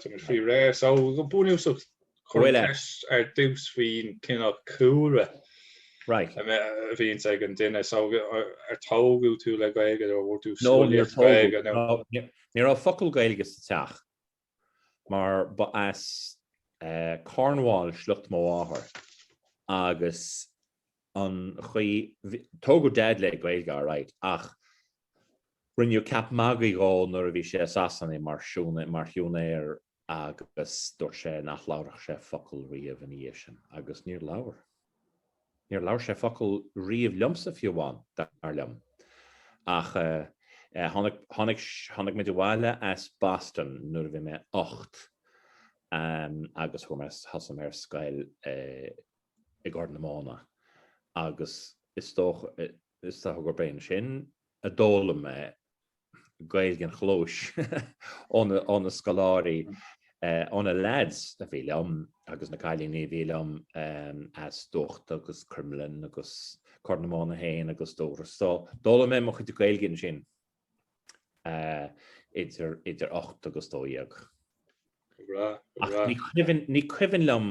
Táimid faoi réir so go bunúsach chuir ceist ar dtús faoin cineál cúlra a bhíonns ag an duine so ar tógadh tú le Gaeilge nó an bhfuair tú scolaíocht Ghaeilge nó. Ní raibh focal Gaeilge sa teach mar ba as Cornwall sliocht mo mháthar agus an chaoi, tógadh Daid le Gaeilge alright ach rinneadh ceap magaidh dhó nuair a bhí sé i Sasana mar siúnaí, mar shiúinéir agus dúirt sé nach labharfadh sé focal riamh ina dhiaidh sin agus níor labhair, níor labhair sé focal riamh liomsa fiú amháin, dar liom. Ach eh, tháinig, tháinig, tháinig muid abhaile as Boston nuair a bhí mé ocht ehm agus chuaigh mé, thosaigh mé ar scoil i, i gCorr na Móna agus is dócha gurb é ansin a d'fhoghlaim mé Gaeilge an chlóis ó na scoláirí, ó na leaids a bhí liom agus na cailíní a bhí liom as Dubhachta agus Cruimlinn agus Corr na Móna féin agus Dubhros. So d'fhoghlaim mé mo chuid Gaeilge ansin idir ocht agus dó dhéag. Ní cuimhin liom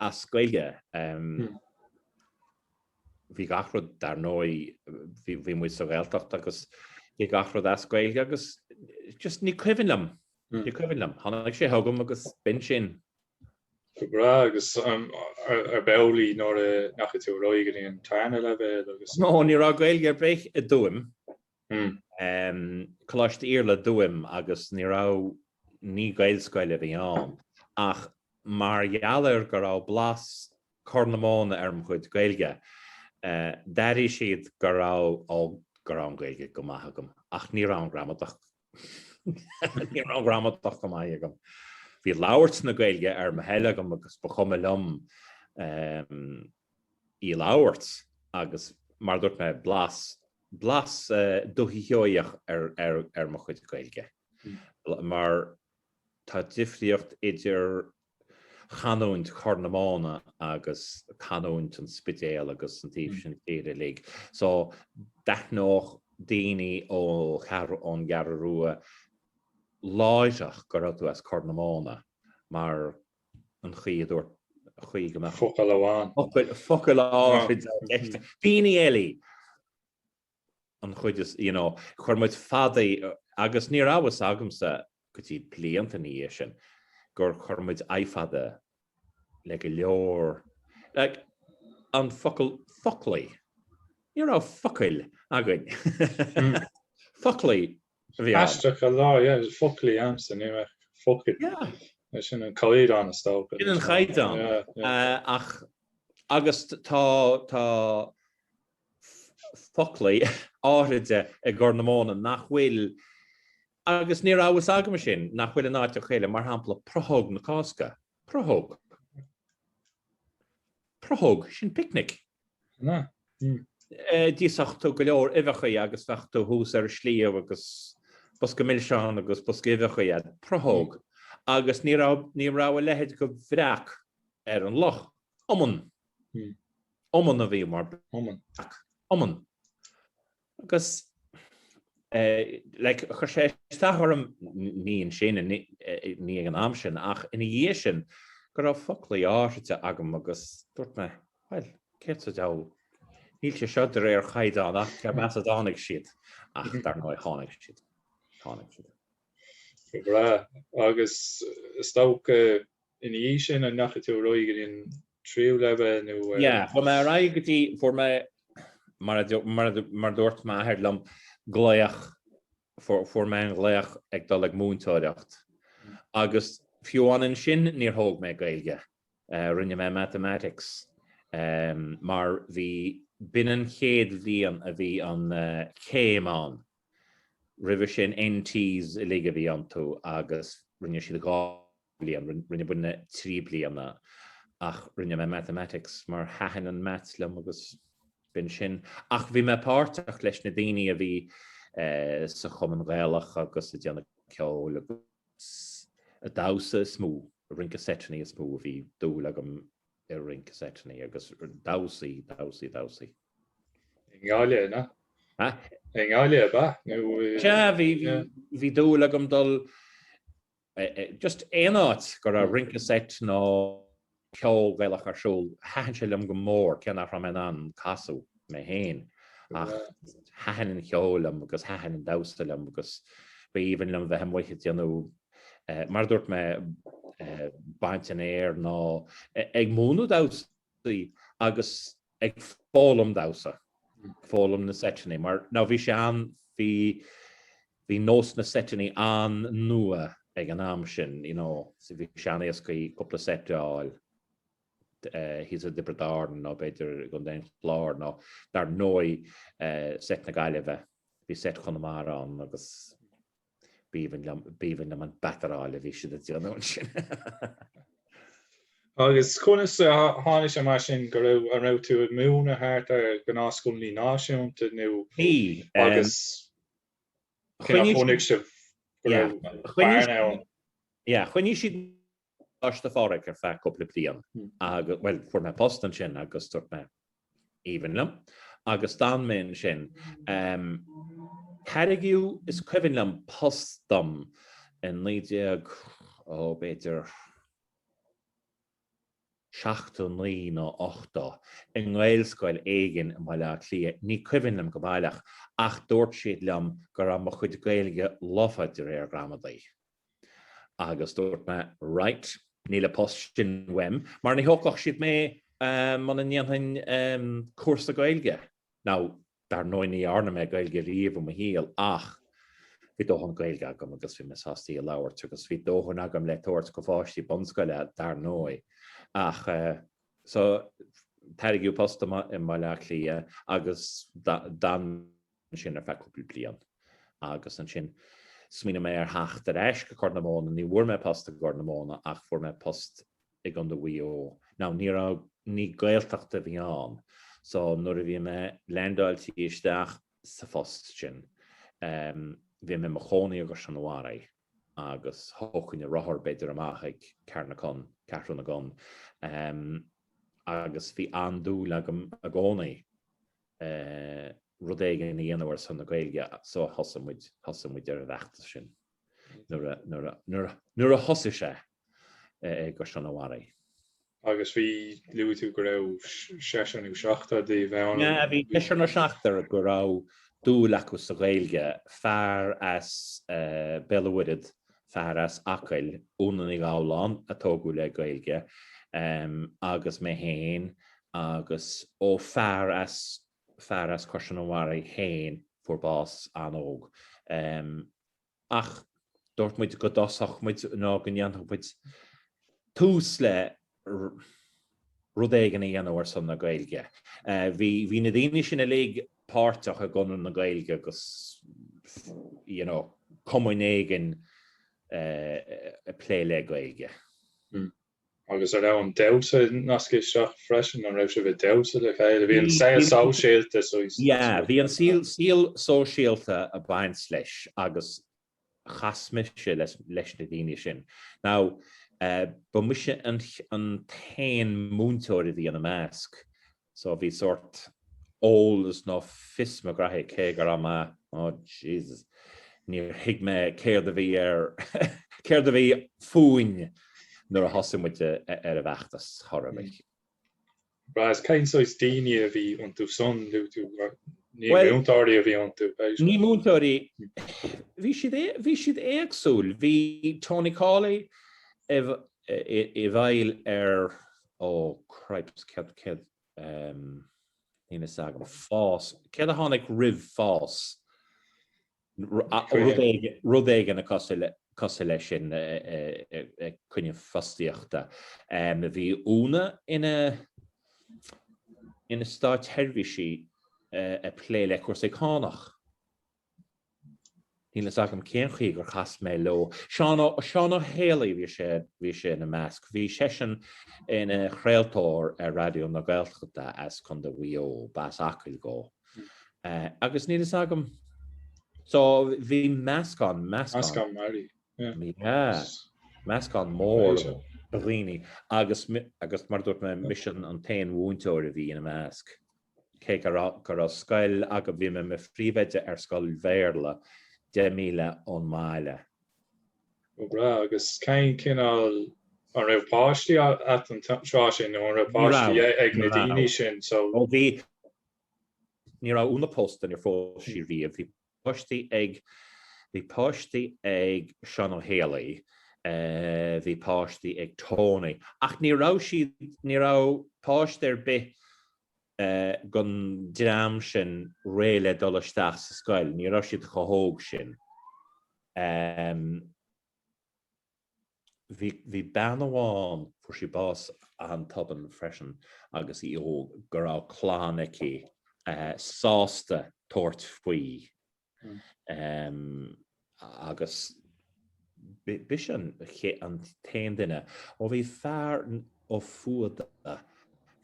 as Gaeilge. Bhí gach rud dar ndóigh, bhí muid sa Ghaeltacht agus bhí gach rud as Gaeilge agus just ní cuimhin liom, ní cuimhin liom. Tháinig sé chugam agus b'in sin. Go breá agus arbh amhlaidh nuair a ndeachaigh tú ar aghaidh go dtí an tarna leibhéal agus. No, ní raibh Gaeilge ar bith i dTuaim Coláiste Iarlatha i dTuaim agus ní raibh, ní Gaelscoil a bhí ann ach mar gheall ar go raibh blas Corr na Móna ar mo chuid Gaeilge d'airigh siad go raibh, go raibh an Ghaeilge go maith agam ach ní raibh an gramadach Ní raibh an gramadach go maith agam. Bhí labhairt na Gaeilge ar mo thoil agam agus ba chuma liom ehm, í labhairt agus mar dúirt mé blas blas eh, Dhúiche Sheoigheach ar mo chuid Gaeilge. Hmm. Mar tá difriocht idir chanúint Chorr na Móna agus canúint an Spidéil agus an taobh sin tíre uilig. So d'aithneodh daoine ó cheathrú, ón gCeathrú Rua láithreach go raibh tú as Corr na Móna mar an chaoi a dúirt, an chaoi go mbeadh focal amháin, focal amháin, daoine eile. an chuid is, you know, chuir muid fadaí agus ní raibh a fhios agamsa go dtí blianta ina dhiaidh sin gur chuir muid i fada le go leor, like, an focal foclaí, ní raibh focail againn, foclaí a bhí ann. Aisteach a lá, yeah, bhí foclaí a'msa, ní raibh focail. Yeah. Sin an caighdeán is dócha. Sin an caighdeán. Yeah, yeah. Ach, agus tá, tá, foclaí áithride i gCorr na Móna nach bhfuil, agus ní raibh a fhios agam sin, nach bhfuil in áiteachaí eile, mar shampla Prothóg na Cásca, prothóg, prothóg, sin picnic. d'íosfadh tú go leor uibheachaí agus bheadh tú thuas ar an sliabh agus bosca milseán agus bosca uibheachaí a'd, prothóg, agus ní raibh a leithéid de bhreac ar an loch. Iomann. Iomann a bhí mar beach. Iomann. Agus like chuir sé isteach orm, ní ansin, ní ag an am sin, ach ina dhiaidh sin, go raibh foclaí áithride agam agus dúirt mé, bhuel, céard sa diabhal, níl sé seo de réir chaighdeán ach cé mb'as a dtáinig siad, ach dar ndóigh tháinig siad. Tháinig siad. Go breá. Agus is dócha Ina dhiaidh sin, an ndeachaigh tú ar aghaidh ar an tríú leibhéal nó ar. Yeah, chuaigh mé ar aghaidh go dtí, fuair mé, mar a, mar a, mar a dúirt m'athair liom, glaoch, fuair, fuair mé an glaoch ag dul ag múinteoireacht. Agus fiú amháin ansin níor thóg mé Gaeilge. Eh, rinne mé Mathematics. Eh, mar bhí, b'in an chéad bhliain a bhí an, eh, céim ann. Roimhe sin NTs uilig a bhí iontu agus rinne siad dhá bhliain, rinne muinne trí bliana ach rinne mé Mathematics mar thaitin an Maths liom agus b'in sin. Ach bhí mé páirteach leis na daoine a bhí sa Chumann Gaelach agus ag déanamh ceol agus ag damhsa is mó, ag rince seiteannaí is mó a bhí dúil agam i rince seiteannaí agus damhsaí, damhsaí, damhsaí. I nGaillimh, an ea? Ha? I nGaillimh, ab ea? Nó i? Sea, bhí, bhí, bhí dúil agam dul just aon áit go raibh rince seit nó ceol Gaelach ar siúl, thaitin sé liom go mór cé nach raibh mé in ann casadh mé féin ach thaitin an ceol liom agus thaitin an damhsa liom agus b'aoibhinn liom bheith amuigh ag déanamh, mar a dúirt mé, baint an fhéir nó ag múineadh damhsaí agus ag foghlaim damhsa, foghlaim na seiteannaí mar ná bhí sé an, bhí, bhí nós na seiteannaí an-nua ag an am sin, you know, bhí sé an-éascaí cúpla seit a fháil. thíos i dTiobraid Árann nó b'fhéidir i gContae an Chláir nó dar ndóigh seit na Gaillimhe. Bhí seit Chonamara ann agus b'aoibhinn liom, b'aoibhinn liom an bataráil a bhí siad ag déanamh ansin. Agus conas a tháinig sé mar sin go raibh, an raibh tú ag múineadh thart ar gnáthscoileannaí náisiúnta nó agus cé nach chonaic sibh go raibh bearna ann? Choinnigh siad Coláiste Phádraig ar feadh cúpla bliain agus bhuel fuair mé post ansin agus dúirt mé aoibhinn liom agus d'fhan mé ansin. Tairgeadh is cuimhin liom post dom i naoi déag, ó, b'fhéidir seachtó naoi nó ochtó, i nGaelscoil éigin i mBaile Átha Cliath, ní cuimhin liom go baileach, ach dúirt siad liom go raibh mo chuid Gaeilge lofa de réir gramadaí. Agus dúirt mé, Right, níl an post sin uaim, mar ní thógfadh siad mé muna ndéanfainn cúrsa Gaeilge. Now, dar ndóigh ní dhearna mé Gaeilge riamh i mo shaol, ach bhí dóthain Gaeilge agam agus bhí mé sásta í a labhairt, agus bhí dóthain agam le tabhairt do pháistí bunscoile, dar ndóigh. Ach, so, tairgeadh post i mBaile Átha Cliath agus d'fhan. ansin ar feadh cúpla bliain agus ansin smaoinigh mé ar theacht ar ais go Corr na Móna. Ní bhfuair mé post i gCorr na Móna ach fuair mé post i gContae Mhaigh Eo. Now ní raibh, ní Gaeltacht a bhí ann so nuair a bhí mé leaindeáiltí isteach sa phost sin bhí mé i mo chónaí i gCaisleán an Bharraigh agus thógfainn an rothar b'fhéidir amach ag Carnacon, Ceathrú na gCon, agus bhí an-dúil agam i gcónaí rud éigin a dhéanamh ar son na Gaeilge so thosaigh muid, thosaigh muid ar an bhfeachtas sin nuair a, nuair a, nuair a, nuair a thosaigh sé i gCaisleán an Bharraigh. Agus bhí, luaigh tú go raibh seisear nó seachtar díbh ann. Bhí seisear nó seachtar go raibh dúil acu sa Ghaeilge, fear as Béal a' Mhuirthead fear as Acaill, Úna Ní Ghabhláin, a tógadh le Gaeilge, agus mé féin, agus ó fear as, fear as Caisleán an Bharraigh féin fuair bás an-óg. Ach dúirt muid go dtosódh muid, nó go ndéanfadh muid tús le. rud éigin a dhéanamh ar son na Gaeilge. Bhí na daoine sin uilig páirteach i gConradh na Gaeilge agus you know cumainn éigin ag plé le Gaeilge. Hmm. Agus an raibh an damhsa nasctha isteach freisin, an raibh sibh ag damhsa le chéile? Bhí an saol sóisialta. Yeah, bhí an saol sóisialta ag baint leis agus chas mise leis na daoine sin. Now, ba mise an t-aon múinteoir a bhí ina measc, so bhí sórt eolas nó fios mo ghraithe cé go raibh mé, oh Jesus, níor thuig mé céard a bhí ar, céard a bhí fúinn nuair a thosaigh muid ar an bhfeachtas chomh maith. Agus cén saghas daoine a bhí iontu san, nó ní múinteoirí a bhí iontu? Ní múinteoirí. Bhí siad, bhí siad éagsúil. Bhí Tony Calley i bhfeighil ar, ó cripes, céard, céard, níl fhios agam, fás, céard a tháinig roimh fás? Rud éigin cosúil leis sin chun na fostaíochta. Bhí Úna ina státseirbhísí ag plé le cúrsaí cánach. Níl fhios agam cén chaoi gur chas mé leo. Seán Ó hÉalaí, bhí sé ina measc. Bhí seisean ina chraoltóir ar Raidió na Gaeltachta as Contae Mhaigh Eo, ba as Acaill dhó. Agus níl fhios agam. So bhí meascán, meascán. Meascán mearaí. Yeah. Meascán mór de dhaoine agus, agus mar a dúirt mé, mise an t-aon mhúinteoir a bhí ina measc. Cé go raibh, go raibh scoil agam, bhí mé i mo phríomhoide ar scoil Bhéarla deich míle ón mbaile. Ó breá, agus cén cineál, an raibh páistí a'd an tráth sin nó an raibh páistí ag na daoine sin? So. Ó bhí, Ní raibh Úna pósta, níor phós sí riamh. Bhí páistí ag Bhí páistí ag Seán Ó hÉalaí, bhí páistí ag Tony ach ní raibh siad ní raibh páiste ar bith den dream sin réidh le dul isteach sa scoil, ní raibh siad chomh hóg sin. Bhí bean amháin, fuair sí bás an-tobann freisin agus í óg, go raibh clann aici sásta tabhairt faoi agus b'ise an t-aon duine, ó bhí fear ó Fahda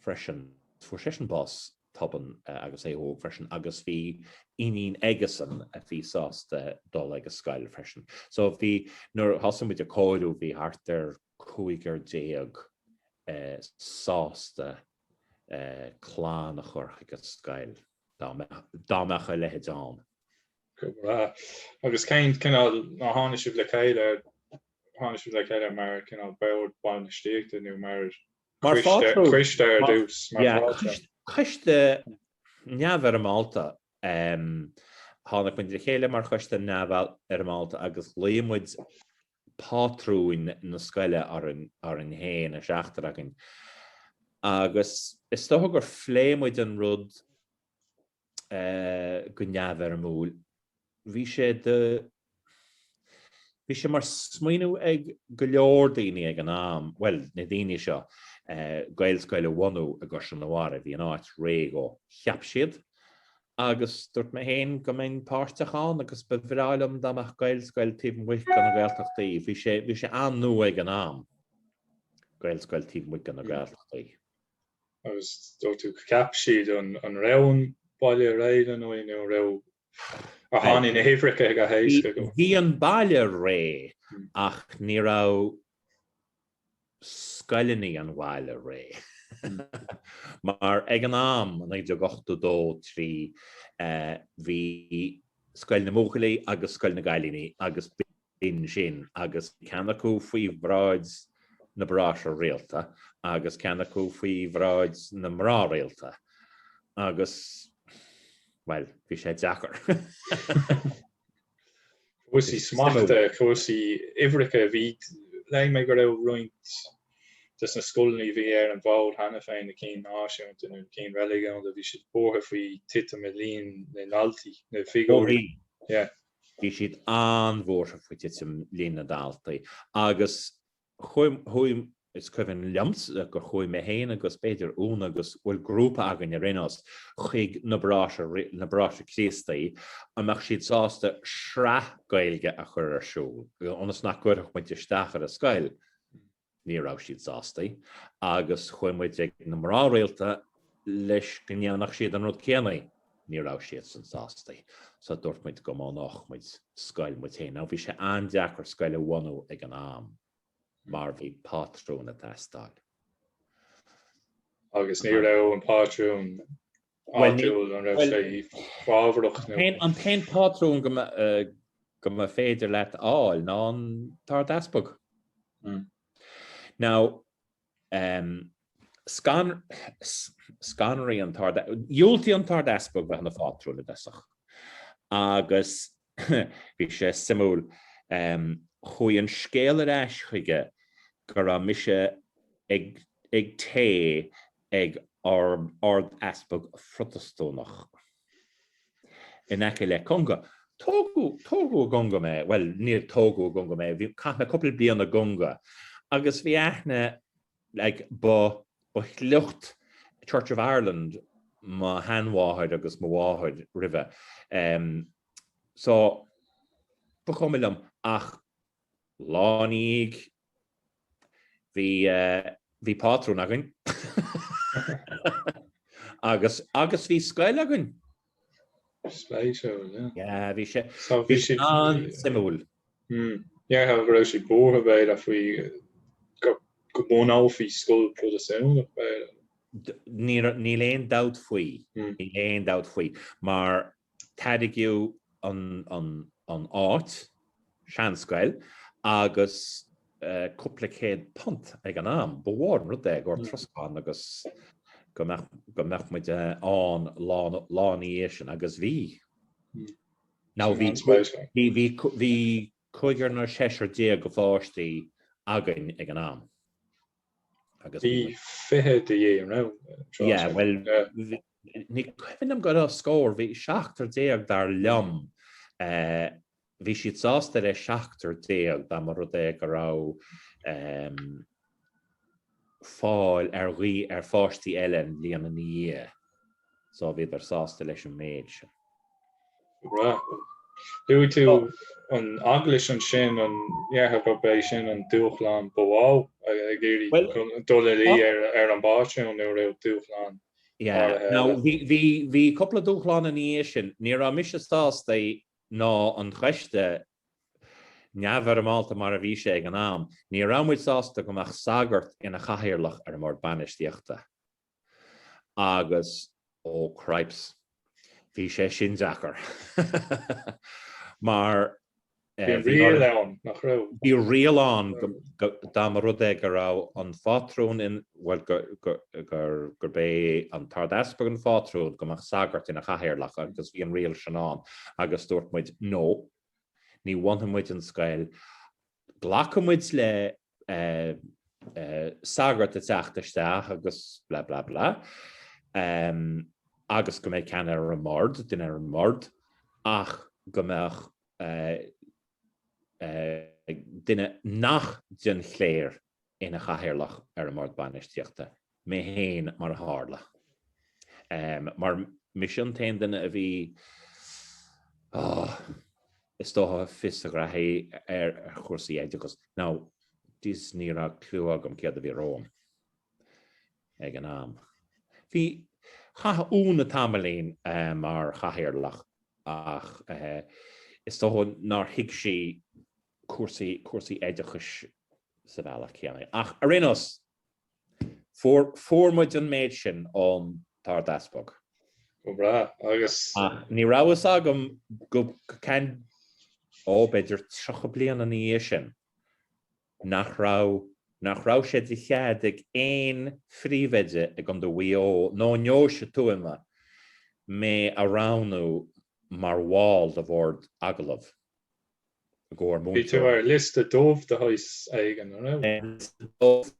freisin, fuair seisean bás tobann agus é óg freisin agus bhí iníon aigesan a bhí sásta dul ag a scoil freisin. So bhí nuair thosaigh muid a comhaireamh bhí thart ar cúigear déag sásta clann a chur chuig a scoil dá mbeadh dá mbeadh a leithéid ann. Go breá. Agus cén cineál ná tháinig sibh le chéile tháinig sibh le chéile mar cineál bord bainistíochta nó mar Mar choiste ar dtús. Coiste neamhfhoirmeálta. Tháinig muid le chéile mar choiste neamhfhoirmeálta agus ghlaoigh muid pátrúin na scoile orainn féin a seachtar againn. Agus is dócha gur phléigh muid an rud go neamhfhoirmiúil, bhí sé de, bhí sé mar smaoineamh ag go leor daoine ag an am, bhuel, na daoine seo, Gaelscoil a bhunú i gCaisleán an Bharraigh, bhí an áit réidh dhó, cheap siad, agus dúirt mé féin go mbeinn páirteach ann agus ba bhreá liom dá mbeadh Gaelscoil taobh amuigh de na Gaeltachtaí, bhí sé, bhí sé an-nua ag an am, Gaelscoil taobh amuigh de na Gaeltachtaí. agus dúirt tú cheap siad an raibh an baile réidh lena aghaidh nó raibh ar tháinig na hIfrice ag a thaisce go. Bhí an baile réidh ach ní raibh scoileanna an bhaile réidh mar ag an am, 1982, 3, bhí Scoil na mBuachaillí agus Scoil na gCailíní agus b'in sin agus bhí ceann acu faoi bhráid na Bráithre rialta agus ceann acu faoi bhráid na mná rialta agus, bhuel, bhí sé deacair. Cúrsaí smachta, cúrsaí uimhreacha, bhí, léigh mé go raibh roinnt des na scoileanna a bhí ar an bhfód cheana féin, na cinn náisiúnta nó na cinn reiligiúnda, bhí siad buartha faoi titim i líon na ndaltaí, na figiúirí. Yeah. Bhí siad an-bhuartha faoi titim líon na ndaltaí agus chuaigh, is cuimhin liomsa gur chuaigh mé féin agus b'fhéidir Úna agus bhuel grúpa againn ar aon nós, chuig na Bráithre, na Bráithre Críostaí, an mbeadh siad sásta sraith Gaeilge a chur ar siúl ionas nach gcuirfeadh muid isteach ar an scoil? Ní raibh siad sásta agus chuaigh muid ag na mná rialta leis go ndéanfadh siad an rud céanna. Ní raibh siadsan sásta so dúirt muid go mbunódh muid scoil muid féin. Now bhí sé an-deacair scoil a bhunú ag an am mar bhí pátrún ag teastáil. Agus ní raibh an pátrún áitiúil an raibh sé fabhrach nó. An t-aon pátrún go mba féidir leat a fháil ná an tArdeaspag. Now, scanraigh an tArdeaspag, dhiúltaigh an tArdeaspag bheith ina phátrún i dtosach agus Bhí sé suimiúil. Chuaigh an scéal ar ais chuige go raibh mise ag gabháil ag Ard-Easpag Protastúnach in aice le Conga. Tógadh i gConga mé, bhuel níor tógadh i gConga mé, chaith mé cúpla bliain i gConga agus bhí aithne Ba ó shliocht Church of Ireland mo sheanmháthair agus mo mháthair roimhe so ba chuma liom ach lá ina dhiaidh bhí pátrún againn agus bhí scoil againn. Bhí sé an-suimiúil. Déarfá go raibh sé buartha b'fhéidir faoi go mbunófaí scoil Protastúnach b'fhéidir. Níl aon dabht faoi, níl aon dabht faoi mar tairgeadh an áit. seanscoil agus cúpla céad punt ag an am. Ba mhór an rud é i gcomhair troscán agus go mbeadh muid ann lá ina dhiaidh sin, agus bhí. Now bhí cúigear nó seisear déag de pháistí againn ag an am. Bhí fiche de dhíth ann an tráth sin. Yeah, bhuel, ní cuimhin liom go raibh scór, bhí seachtar déag dar liom Bhí siad sásta le seachtar déag dá mba rud é go raibh fáil ar pháistí eile an bhliain ina dhiaidh so bhíodar sásta leis an méid sin. Right. Luaigh tú an Eaglais ansin, an ndéarfá gurb é sin an dúshlán ba mhó ag iarraidh dul ina luí ar an bpátrún nó an raibh dúshlán áirithe eile? Now bhí cúpla dúshlán ina dhiaidh sin. Ní raibh mise sásta ná an choiste, neamhfhoirmeálta mar a bhí sé ag an am, ní raibh muid sásta go mbeadh sagart ina chathaoirleach ar an mbord bainistíochta agus, ó cripes, bhí sé sin deacair mar bhí riail ann, nach raibh? Bhí riail ann dá mba rud é go raibh an phátrún in. bhuel, gurb é an tArdeaspag an phátrún go mbeadh sagart ina chathaoirleach agus bhí an riail sin ann agus dúirt muid, no, ní bhunóidh muid an scoil, glacfaidh muid le sagart a theacht isteach agus blah, blah, blah, agus go mbeadh ceann ar an mbord, duine ar an mbord, ach go mbeadh duine nach den chléir ina chathaoirleach ar an mbord bainistíochta, mé féin mar a tharla, mar mise an t-aon duine a bhí, á, is dócha, fios a ghraithí ar chúrsaí oideachais, now jeez ní raibh clue agam céard a bhí romham ag an am. Bhí, chaith Úna tamaillín mar chathaoirleach ach is dócha nár thuig sí cúrsaí cúrsaí oideachais sa bhealach céanna. Ach ar aon nós, fuair muid an méid sin ón Ard-Easpag. Go breá, agus. Ach ní raibh fhios agam go ceann, ó, b'fhéidir tríocha bliain ina dhiaidh sin, nach raibh nach raibh sé de chead ag aon phríomhoide i gContae Mhaigh Eo nó i nDeoise Thuama mé a roghnú mar bhall de bhord agallaimh. gcomhair múinteoirí. Bhí tú ar liosta dubh de shaghas éigin, an raibh? Liosta dubh?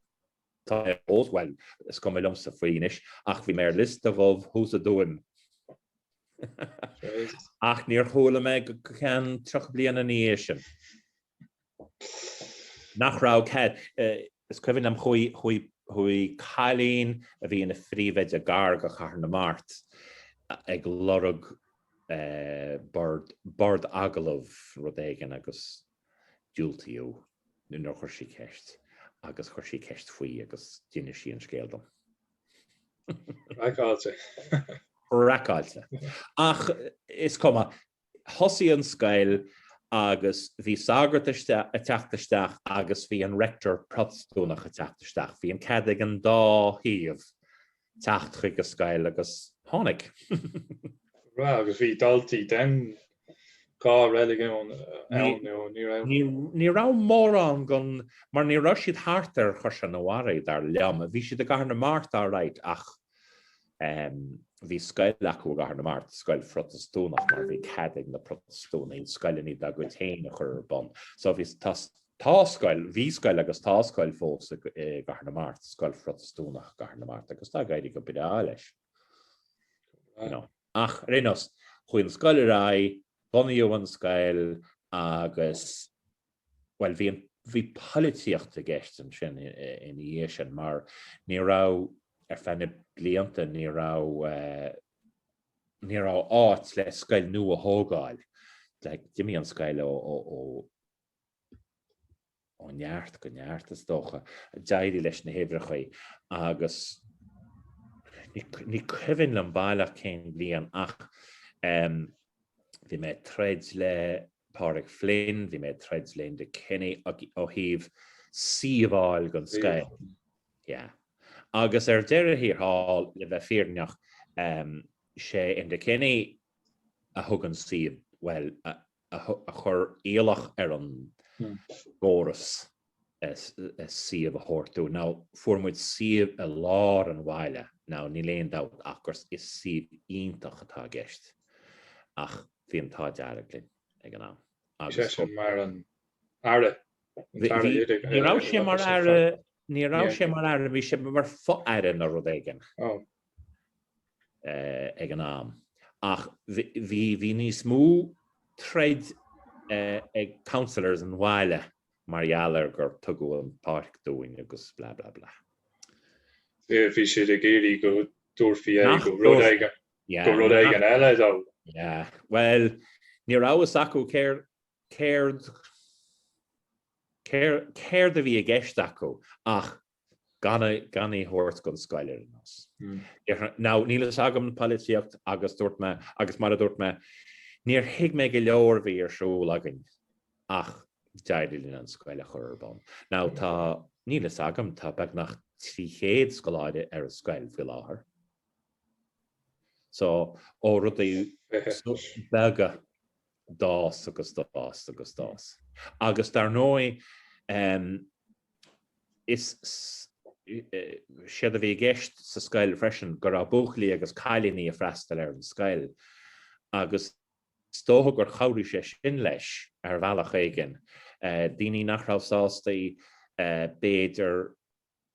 Bhuel, is cuma liomsa faoi anois, ach bhí mé ar liosta dubh, thuas i dTuaim. Ach níor chuala mé go ceann tríocha bliain ina dhiaidh sin nach raibh cead. Is cuimhin liom, chuaigh cailín a bhí ina phríomhoide gar do Chathair na Mart ag lorg bord, bord agallamh rud éigin agus diúltaíodh nuair a chuir sí ceist agus chuir sí ceist faoi agus d'inis sí an scéal dom. Craiceáilte. Craiceáilte. Ach is cuma. Thosaigh an scoil agus bhí sagart ag teacht isteach agus bhí an rector Protastúnach ag teacht isteach. Bhí an cead ag an dá thaobh teacht chuig an scoil agus tháinig. Breá agus bhí daltaí den dhá reiligiún ann nó ní raibh? Ní raibh mórán ann mar ní raibh siad thart ar Chaisleán an Bharraigh dar liom. Bhí siad i gCathair na Mart alright ach Bhí scoil acu i gCathair na Mart, scoil Phrotastúnach mar bhí cead ag na Protastúnaigh scoileanna dá gcuid féin a chur ar bun. So bhí, tá scoil, bhí scoil agus tá scoil fós i gCathair na Mart, scoil Phrotastúnach i gCathair na Mart agus tá ag éirí go breá leis. Ach ar aon nós, chuaigh an scoil ar aghaidh, bunaíodh an scoil agus Bhuel, bhí an, bhí poilitíocht i gceist ansin ina dhiaidh sin mar ní raibh, ar feadh na blianta ní raibh, ní raibh áit le scoil nua a thógáil, like d'imigh an scoil ó, ó, ó, ó neart go neart is dócha, d'éirigh leis na huimhreachaí agus ní, ní cuimhin liom baileach cén bhliain ach, eh, Bhí mé ag troid le Pádraig Flynn, bhí mé ag troid le Enda Kenny ó thaobh suíomh a fháil don scoil. Yeah. Agus ar deireadh thiar thall, le bheith fírinneach, sé Enda Kenny a thug an suíomh, bhuel, a chuir iallach ar an gcóras. suíomh a thabhairt dó. Now, fuair muid suíomh i lár an bhaile. Now, níl aon dabht ach gur is suíomh iontach atá i gceist, ach bhí an t-ádh dearg linn ag an am agus bhí sé sin mar an Aire, an tAire Oide. Ní raibh sé mar Aire, ní raibh sé mar Aire, bhí sé mar fo-Aire nó rud éigin ag an am. Ach bhí, bhí níos mó troid ag councillors an bhaile mar gheall ar gur tugadh an páirc dúinn agus blah blah blah. Bhí siad ag iarraidh go dtabharfaí í do rud éigin, do rud éigin eile. Yeah, bhuel, ní raibh a fhios acu céard, céard, céard a bhí i gceist acu ach gan í a thabhairt don scoil ar aon nós. Now níl fhios agam na polaitíocht agus dúirt mé, agus mar a dúirt mé, níor thuig mé go leor a bhí ar siúl againn ach d'éirigh linn an scoil a chur ar bun. Now tá, níl fhios agam, tá beagnach 300 scoláire ar an scoil faoi láthair. So, ó rudaí beaga. d'fhás agus d'fhás agus d'fhás. Agus dar ndóigh is éard a bhí i gceist sa scoil freisin go raibh buachaillí agus cailíní ag freastal ar an scoil agus is dócha gur chabhraigh sé sin leis ar bhealach éigin. Daoine nach raibh sásta b'fhéidir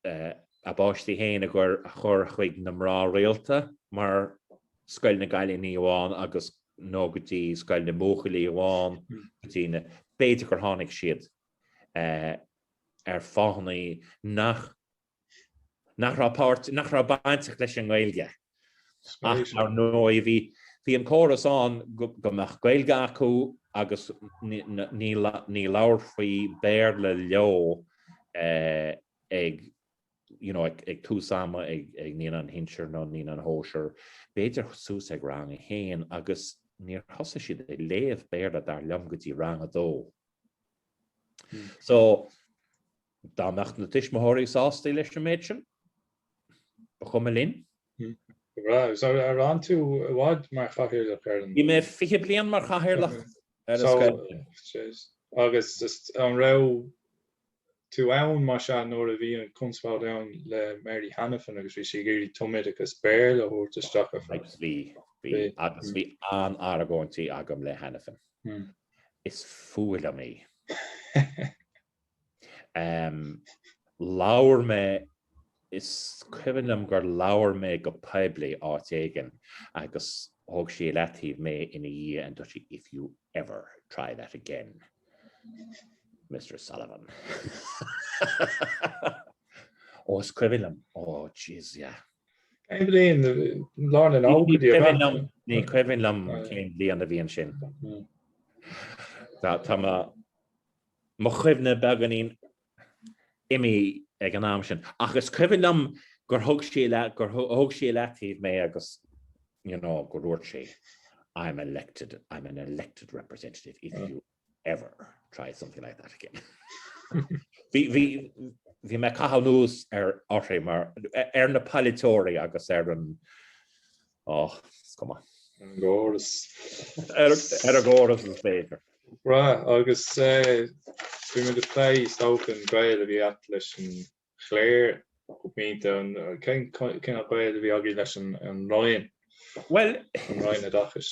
a bpáistí féin a chur chuig na mná rialta mar Scoil na gCailíní amháin agus, nó go dtí Scoil na mBuachaillí amháin go dtí na. B'fhéidir gur tháinig siad ar fáthanna nach raibh bainteach leis an nGaeilge. Ach ar ndóigh bhí bhí an córas ann go mbeadh Gaeilge acu agus ní labharfaí Béarla leo ag you know ag tús ama ag Naíonáin Shinsir nó Naíonáin Shóisir. B'fhéidir suas ag rang a haon agus níor thosaigh siad ag léamh Béarla dar liom go dtí rang a dó. So Dá mbeadh na tuismitheoirí sásta leis an méid sin, ba chuma linn. Go breá. Agus ar fhan tú i bhfad mar chathaoirleach ar an. Bhí mé 20 bliain mar chathaoirleach ar an scoil sin. Jeez. Agus an raibh tú ann, más ea, nuair a bhí an conspóid ann le Mary Hanafin agus bhí sí ag iarraidh tumoideachas Béarla a thabhairt isteach ar fad? Bhí. Bhí. Agus bhí an-argóintí agam le Hanafin. Is fuath liom í. Em, labhair mé, is cuimhin liom gur labhair mé go poiblí áit éigin agus thug sí i leataobh mé ina dhiaidh and dúirt sí if you ever try that again, Mr Sullivan. Ó, is cuimhin liom, ó, jeez, yeah. Cén bliain lá na lá go dtí Cuimhin liom- Ní cuimhin liom Right. cén bliain a bhí ansin. Mm. Tá tá mo- Mo chuimhne beagáinín imithe ag an am sin, ach is cuimhin liom gur thug sí le, gur thug sí i leataobh mé agus, you know, go ndúirt sí, I'm elected, I'm an elected representative if you ever try something like that again. Bhí, bhí, bhí mé ag caitheamh anuas ar, orthu mar, ar na polaiteoirí agus ar an, Ach is cuma. Ar an gcóras. Ar an gcóras is féidir. Right, agus bhí muid ag plé is dócha an gaol a bhí agat leis an chléir go mion, tá, cén cineál gaoil a bhí agaibh leis an Roinn, an Roinn Oideachais?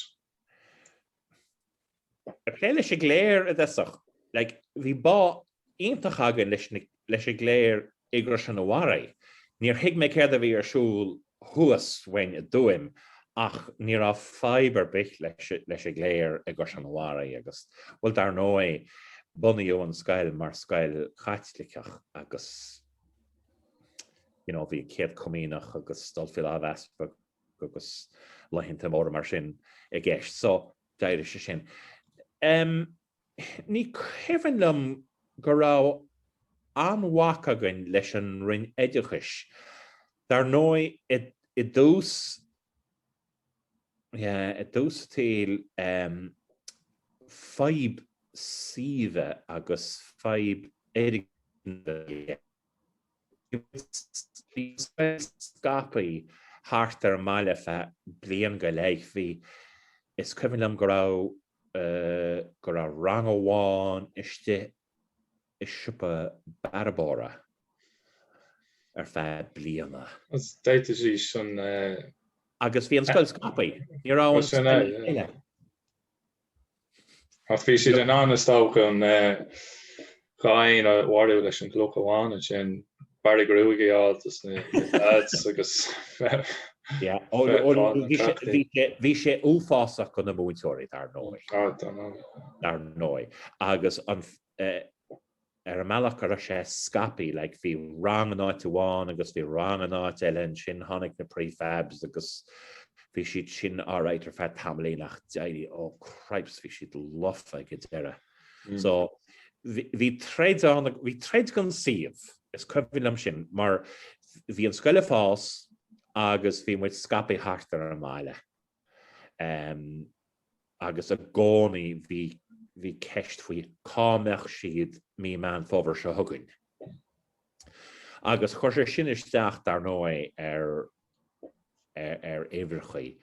Ag plé leis an gcléir i dtosach, bhí bá iontach againn leis an gcléir i gCaisleán an Bharraigh. Níor thuig mé céard a bhí ar siúl thuas uainn i dTuaim ach ní raibh fadhb ar bith leis an gcléir i gCaisleán an Bharraigh agus, bhuel, dar ndóigh, bunaíodh an scoil mar scoil Chaitliceach agus, you know, bhí an chéad comaoineach agus dul faoi lámh easpaig agus laethanta móra mar sin i gceist. So, D'éirigh sé sin. Ní cuimhin liom go raibh aon bhac againn leis an Roinn Oideachais. Dar ndóigh i dtús, yeah, i dtús an tsaoil, fadhb suímhe agus fadhb fhoirgnimh a bhí aige. Bhí an scoil scaipthe thart ar an mbaile feadh bliain go leith. Bhí, is cuimhin liom go raibh, go raibh rang amháin istigh i siopa bearbóra ar feadh bliana. Agus bhí an scoil scaipthe, ní raibh an scoil uile. Ach bhí siad in ann is dócha an dá éan a mharú leis an gcloch amháin ansin bearradh gruaige a fháil do na lads agus bhí sé uafásach do na múinteoirí dar ndóigh dar ndóigh agus Ar an mbealach a raibh sé scaipthe, like, bhí rang in áit amháin agus bhí rang in áit eile ansin, tháinig na prefabs agus bhí siad sin alright ar feadh tamaillín ach d'éirigh, oh cripes, bhí siad lofa ag an deireadh. So, bhí troid ann, bhí troid don suíomh, is cuimhin liom sin, mar bhí an scoil ag fás agus bhí muid scaipthe thart ar an mbaile. agus i gcónaí bhí ceist faoi cá mbeadh siad mí Meán Fómhair seo chugainn. Agus chuir sé sin isteach, dar ndóigh, ar uimhreacha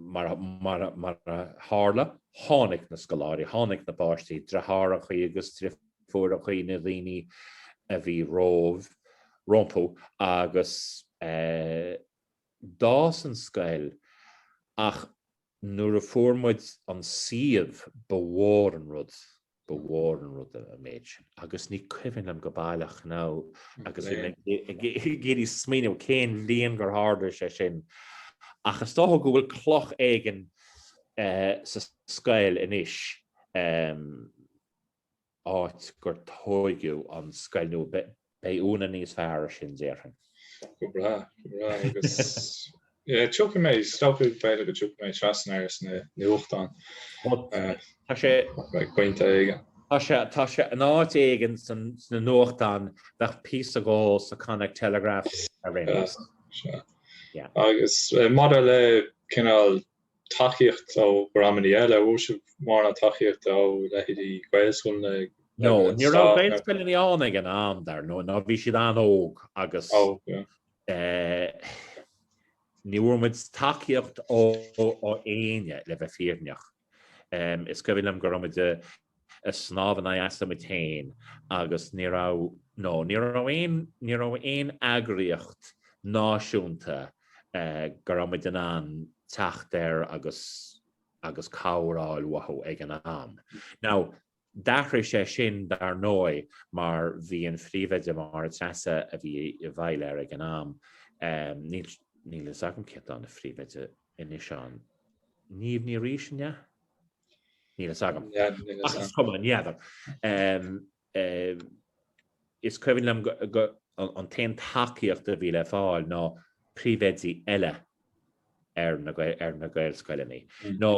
mar a tharla, tháinig na scoláirí, tháinig na páistí, driothárachaí agus deirfiúrachaí na daoine a bhí róimh, rompu agus eh d'fhás an scoil ach nuair a fuair muid an suíomh ba mhór an rud, ba mhór an rud an méid sin agus ní cuimhin liom go baileach you know agus ag iarraidh smaoineamh cén bhliain gur tharla sé sin ach is dócha go bhfuil cloch éigin eh sa scoil anois em áit gur tóigeadh an scoil nua. Beidh Úna níos fearr ar sin déarfainn. Go breá, go breá agus yeah tiocfaidh mé, is dócha b'fhéidir go dtiocfaidh mé trasna air sna nuachtáin. Tá sé ag pointe éigin. Tá sé, tá sé in áit éigin sna nuachtáin bheadh píosa dhe sa Connacht Telegraph ar aon nós. Agus maidir le cineál tacaíocht ó dhreamannaí eile, bhfuair sibh mórán tacaíochta ó leithéidí Gaelscoileanna ag No, ní raibh Gaelscoileanna ann ag an am, dar ndóigh, nó bhí siad an-óg agus ní bhfuair muid tacaíocht ó éinne, le bheith fírinneach. Is cuimhin liom go raibh muid i. ag snámh in aghaidh easa muid féin agus ní raibh, nó ní raibh aon, ní raibh aon eagraíocht náisiúnta go raibh muid in ann teacht air agus, agus cabhair a fháil uathu ag an am. Now, d'athraigh sé sin dar ndóigh mar bhí an Phríomhoide, Máire Treasa a bhí i bhfeighil air ag an am, níl, níl a fhios agam cé atá ina Phríomhoide anois ann, Niamh Ní Rís an ea? Níl fhios agam. Ach is cuma, ní fheadar. Is cuimhin liom an t-aon tacaíocht a bhí le fáil ná príomhoidí eile ar na Gaelscoileanna. Nó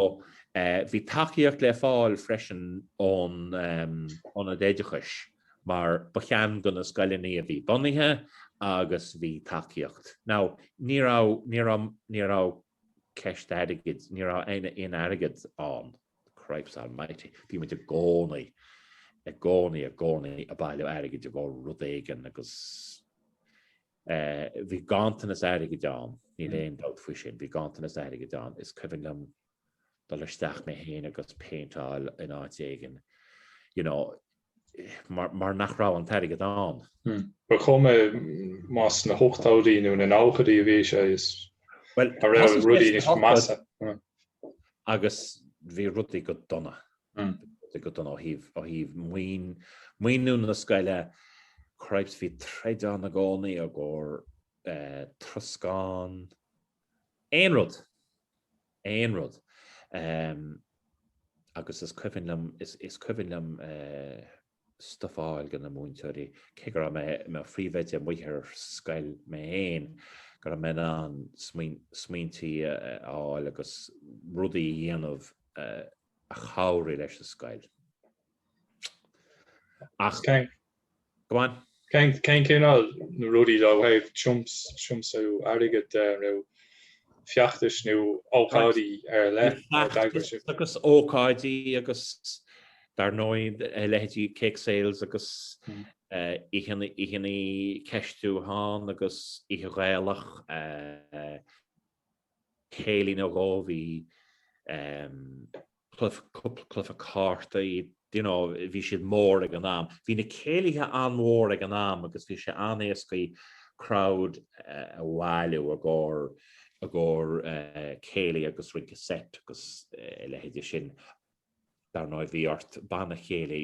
bhí tacaíocht le fáil freisin ón Ionad Oideachais mar ba cheann de na scoileanna a bhí bunaithe agus bhí tacaíocht. Now, ní raibh, ní raibh, ní raibh ceist airgid. Ní raibh aon airgead ann. Cripes almighty. Bhí muid i gcónaí, i gcónaí, i gcónaí ag bailiú airgid i gcomhair rud éigin agus eh, bhí ganntanas airgid ann, níl mm. aon dabht faoi sin, bhí ganntanas airgid ann. Is cuimhin liom dul isteach mé féin agus péinteáil in áit éigin. You know, mar nach raibh an t-airgead ann. Bhuel, cuma más na hochtóidí nó na nóchaidí a bhí sé, sea, bhí rudaí níos measa. Agus bhí rudaí go dona, rudaí go dona ó thaobh maoiniú na scoile, cripes, bhí troid ann i gcónaí i gcomhair troscán, aon rud. aon rud agus is cuimhin liom, is cuimhin liom stuif a fháil do na múinteoirí, cé go raibh mé i mo phríomhoide amuigh ar scoil mé féin, go raibh mé in ann smaointí a fháil agus rudaí a dhéanamh a chabhraigh leis an scoil. Ach go on. Cén cineál rudaí ó thaobh tiomsú airgid de nó feachtais nó ócáidí ar leith a d'eagraigh siad? Agus ócáidí agus dar ndóigh a leithéidí cake sales agus oícheantaí ceistiúcháin agus oíche Ghaelach céilí nó dhó bhí cluiche cártaí you know bhí siad mór ag an am. Bhí na céilithe an-mhór ag an am agus bhí sé an-éascaí crowd a bhailiú i gcomhair i gcomhair céilí agus rince set agus a leithéidí sin. Dar ndóigh bhí ort banna céilí,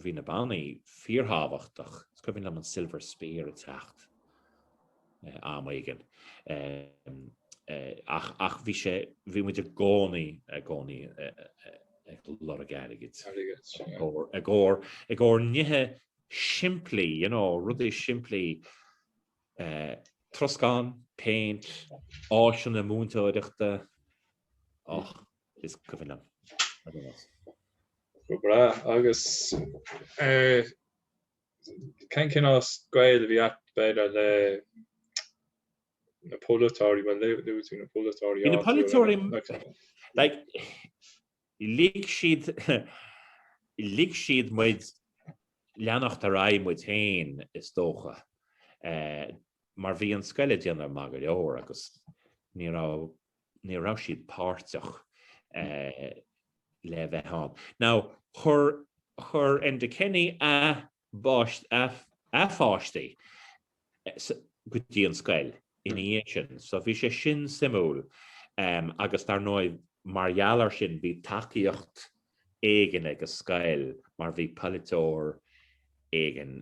bhí na bannaí fíorthábhachtach, is cuimhin liom an Silver Spear ag teacht am éigin ach bhí sé, bhí muid i gcónaí, i gcónaí ag lorg airgid i gcomhair, i gcomhair nithe simplí you know, rudaí simplí, troscán, péint, áiseanna múinteoireachta. is cuimhin liom a dhoras. Go breá agus cén cineál scoil a bhí acu b'fhéidir leis na polaiteoirí bhuel luaigh tú na polaiteoirí Bhí na polaiteoirí lig siad lig siad muid leanacht ar aghaidh muid féin is dócha mar bhí an scoil ag déanamh maith go leor agus ní raibh ní raibh siad páirteach le bheith ann. Now, chuir Enda Kenny a páistí go dtí an scoil ina dhiaidh sin, so bhí sé sin suimiúil agus dar ndóigh mar gheall air sin bhí tacaíocht éigin ag an scoil mar bhí polaiteoir éigin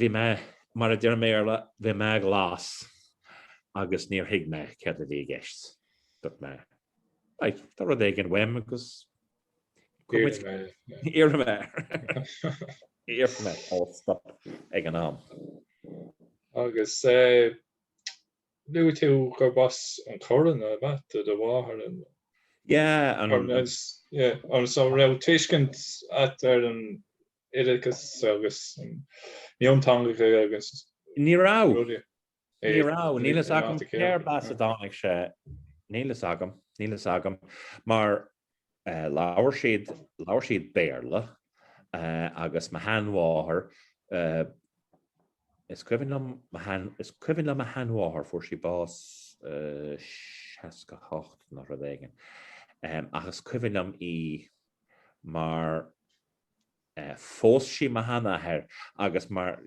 Bhí mé, mar a deirim i mBéarla, bhí mé glas agus níor thuig mé céard a bhí i gceist. Dúirt mé, Right, tá rud éigin uaim agus iarrfaidh mé iarrfaidh mé alt stop ag an am. Agus luaigh tú gurb as an Chorn ab ea do mháthair, an. Yeah, an. Corn, yeah. So raibh tuiscint agat ar an oideachas agus mionteangacha agus. Ní raibh. rudaí. Ní raibh. Níl fhios agam céard as ar tháinig sé. Níl fhios agam. Níl fhios agam. Mar labhair siad, labhair siad Béarla agus mo sheanmháthair, is cuimhin liom, is cuimhin liom mo sheanmháthair, fuair sí bás 68 nó rud éigin, ach is cuimhin liom í mar Phós sí mo shean-athair agus mar,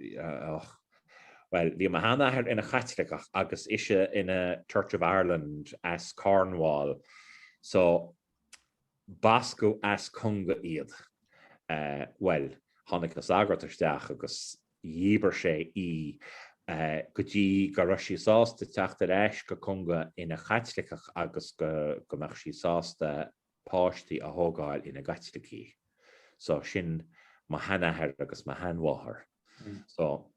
bhuel, bhí mo shean-athair ina Chaitliceach agus ise ina Church of Ireland as Cornwall, so bascadh as Conga iad. Bhuel, tháinig an sagart isteach agus dhíbir sé í go dtí go raibh sí sásta teacht ar ais go Conga ina Caitliceach agus go mbeadh sí sásta páistí a thógáil ina gCaitlicigh. So sin mo sheanathair agus mo sheanmháthair. So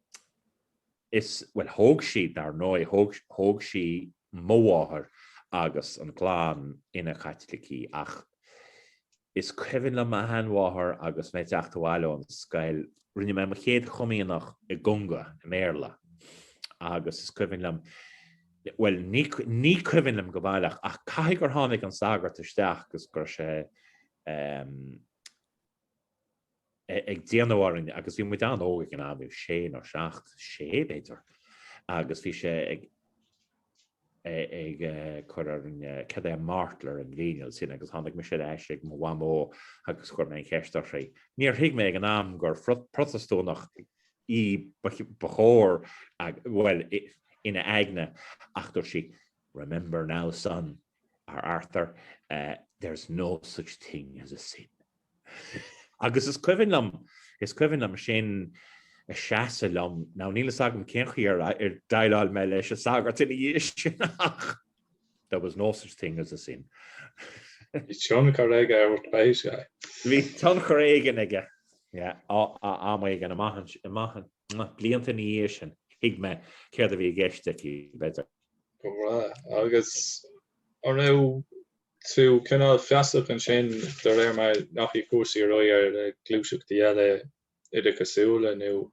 is, bhuel thóg siad dar ndóigh, thóg, thóg sí mo mháthair agus an clann ina gCaitlicigh ach is cuimhin liom mo sheanmháthair agus mé ag teacht abhaile ón scoil, rinne mé mo chéad chomaoineach i gConga, i mBéarla, agus is cuimhin liom, Bhuel, ní cuimhin liom go baileach, ach caithfidh gur tháinig an sagart isteach agus go raibh sé ag déanamh orainn agus bhí muid an-óg ag an am, bhí sé nó seacht, sé b'fhéidir, agus bhí sé ag cur orainn cad é an mártall ar an gcineál sin agus tháinig mise ar ais ag mo mhamó agus chuir mé an cheist uirthi. Níor thuig mé ag an am gur Protastúnach í ba chóir, bhuel, ina aigne, ach dúirt sí, Remember now, son, or Arthur, there's no such thing as a sin. Agus is cuimhin liom, is cuimhin liom sin ag seasamh liom, now níl fhios agam cén chaoi ar dhéileáil mé leis an sagart ina dhiaidh sin ach. There was no such thing as a sin. Bhí tionchar aige ar an spéis, aye. Bhí tionchar éigin aige, yeah, am éigin amach anseo, blianta ina dhiaidh sin, thuig mé céard a bhí i gceist aici, b'fhéidir. Go breá. Agus an raibh tú cineál feasach ansin, de réir mar a ndeachaigh cúrsaí ar aghaidh ar ghluaiseachtaí eile oideachasúla nó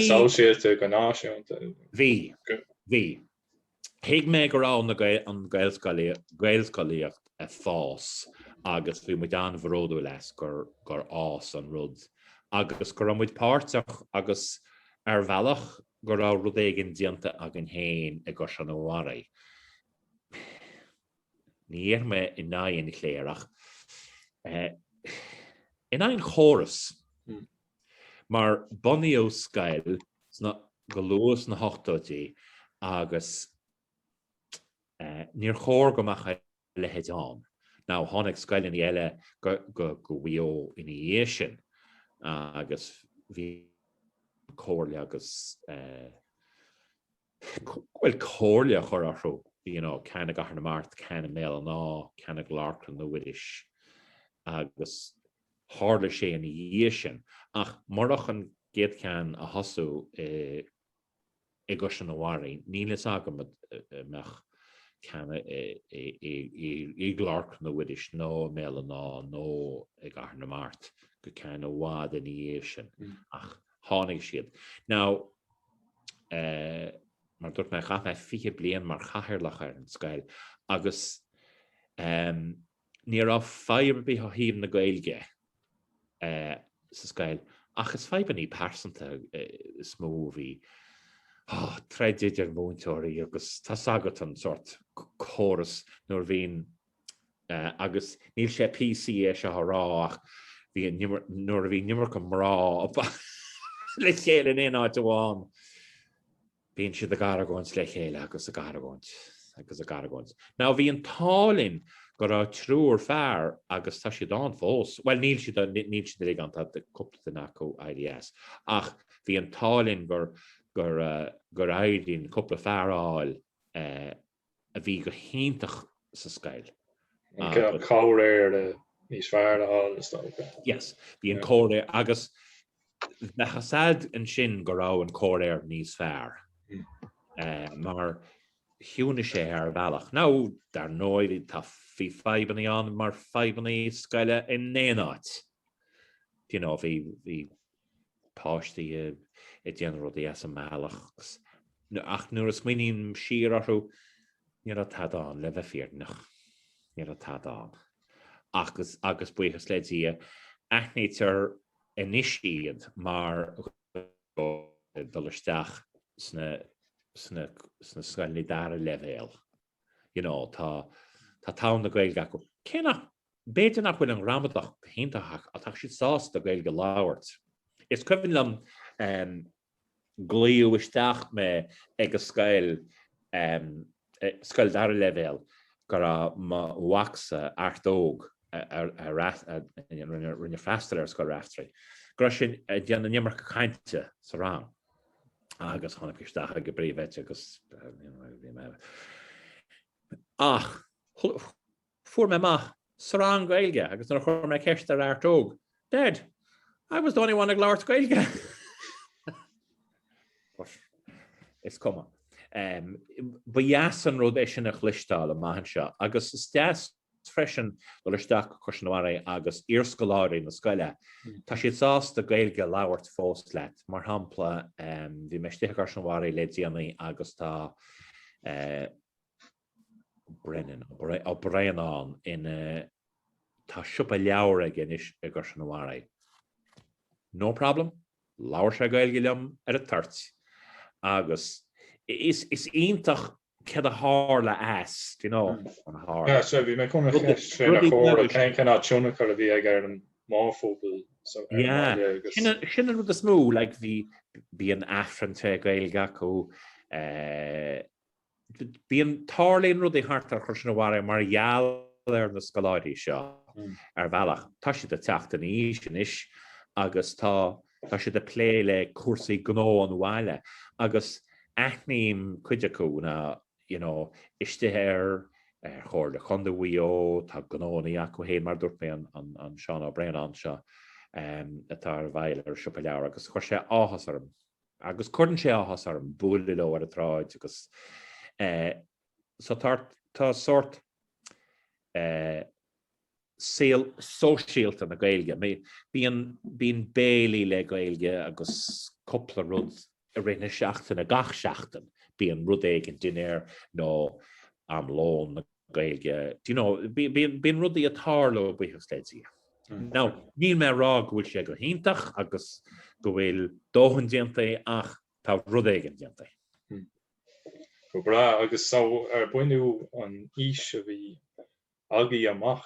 sóisialta go náisiúnta. Bhí. Bhí. Thuig mé go raibh an Gaelscolaíocht ag fás agus bhí muid an-bhródúil as gur fhás an rud agus go raibh muid páirteach agus ar bhealach go raibh rud éigin déanta againn féin i gCaisleán an Bharraigh. Ní raibh mé in aghaidh an chléir ach in aghaidh an chórais mar bunaíodh scoil go luath sna hochtóidí agus níor chóir go mbeadh a leithéid ann. Now tháinig scoileanna eile go Maigh Eo ina dhiaidh sin agus bhí an comhairle agus bhuel comhairle a chur orthu you know ceann i gCathair na Mart, ceann i mBéal an Átha, ceann i gClár Chlainne Mhuiris agus tharla sé ina dhiaidh sin ach murach an gcéad cheann a thosú i i gCaisleán an Bharraigh níl fhios agam an mbeadh ceann i gClár Chlainne Mhuiris nó i mBéal an Átha nó i gCathair na Mart go ceann i bhfad ina dhiaidh sin ach tháinig siad. Now, mar dúirt mé, chaith mé 20 bliain mar chathaoirleach ar an scoil agus ní raibh fadhb ar bith ó thaobh na Gaeilge sa scoil ach is fadhbanna pearsanta is mó a bhí. Troid idir mhúinteoirí agus tá a fhios agat an sórt córas nuair a bhíonn agus níl sé PC é seo a rá ach nuair a bhíonn an iomarca mná le chéile in aon áit amháin bíonn siad ag argóint le chéile agus ag argóint agus ag argóint. Now bhí an t-ádh linn go raibh triúr fear agus tá siad ann fós, bhuel níl siad níl siad uilig ann tá cúpla duine acu éirithe as ach bhí an t-ádh linn gur gur éirigh linn cúpla fear a fháil a bhí go hiontach sa scoil agus. An comhréir níos fearr le hÁine is dócha. Yes, bhí an comhréir agus bheadh a fhad ansin go raibh an comhréir níos fearr mar chiúnaigh sé ar bhealach. Now, dar ndóigh bhí tá bhí fadhbanna ann mar fadhbanna scoile in aon áit. Do you know, bhí bhí páistí ag déanamh rudaí as an mbealach ach nuair a smaoiním siar orthu ní raibh tada ann le bheith fírinneach. Ní raibh tada ann. Ach agus buíochas le Dia aithnítear anois iad mar ag dul isteach sna scoileanna dara leibhéal. You know, tá tuin na Gaeilge acu. Cé nach B'fhéidir nach bhfuil an ghramadach go hiontach ach tá siad sásta Gaeilge a labhairt. Is cuimhin liom glaodh isteach mé ag an scoil, scoil dara leibhéal go raibh mo mhacsa, Art Óg, a rinne freastal ar Scoil Raifteirí, go raibh sé ag déanamh an iomarca cainte sa rang agus tháinig isteach ag an bpríomhoide agus bhí mé. Ach, Fuair mé amach sa rang Gaeilge agus nuair a chuir mé ceist ar Art Óg, 'Dad, I was the only one ag labhairt Gaeilge! But is cuma. Ba dheas an rud é sin a chloisteáil an maith anseo agus is deas freisin dul isteach go Caisleán an Bharraigh agus iarscoláirí na scoile, tá siad sásta Gaeilge a labhairt fós leat. Mar shampla, bhí mé istigh i gCaisleán an Bharraigh le déanaí agus tá Brennan, Ó Braonáin ina Tá siopa leabhar aige anois i gCaisleán an Bharraigh. No problem, labhair sé Gaeilge liom ar an toirt agus is iontach cad a tharla as, do you know, chun a haire. Sea, sea, bhí mé chun an cheist chéanna a chur ort, cén cineál tionchar a bhí aige ar an mórphobal sa bhaile agus. Sea, sin an rud is mó, like bhí an Aifreann tré Gaeilge acu, eh, Bíonn tarlaíonn rudaí thart ar Chaisleán an Bharraigh mar gheall ar na scoláirí seo ar bhealach. Tá siad ag teacht in aois anois agus tá tá siad ag plé le cúrsaí gnó an bhaile agus aithním cuid acu ná you know istigh ar ar Chomhairle Chontae Mhaigh Eo tá gnónaí acu féin mar a dúirt mé an an Seán Ó Braonáin seo atá i bhfeighil ar an siopa leabhar agus chuir sé áthas orm. Agus cuireann sé áthas orm bualadh leo ar an tsráid agus eh, so tá tá sórt eh, saol sóisialta na Gaeilge. Bíonn bíonn béilí le Gaeilge agus cúpla rud i rith na seachtaine, gach seachtain bíonn rud éigin dinnéar nó am lóin na Gaeilge, do you know, bíonn rudaí ag tarlú buíochas le Dia. Now, níl mé ag rá go bhfuil sé go hiontach agus go bhfuil dóthain déanta ach tá rud éigin déanta. Go breá, agus so ar bhunú an fhís a bhí agaibh amach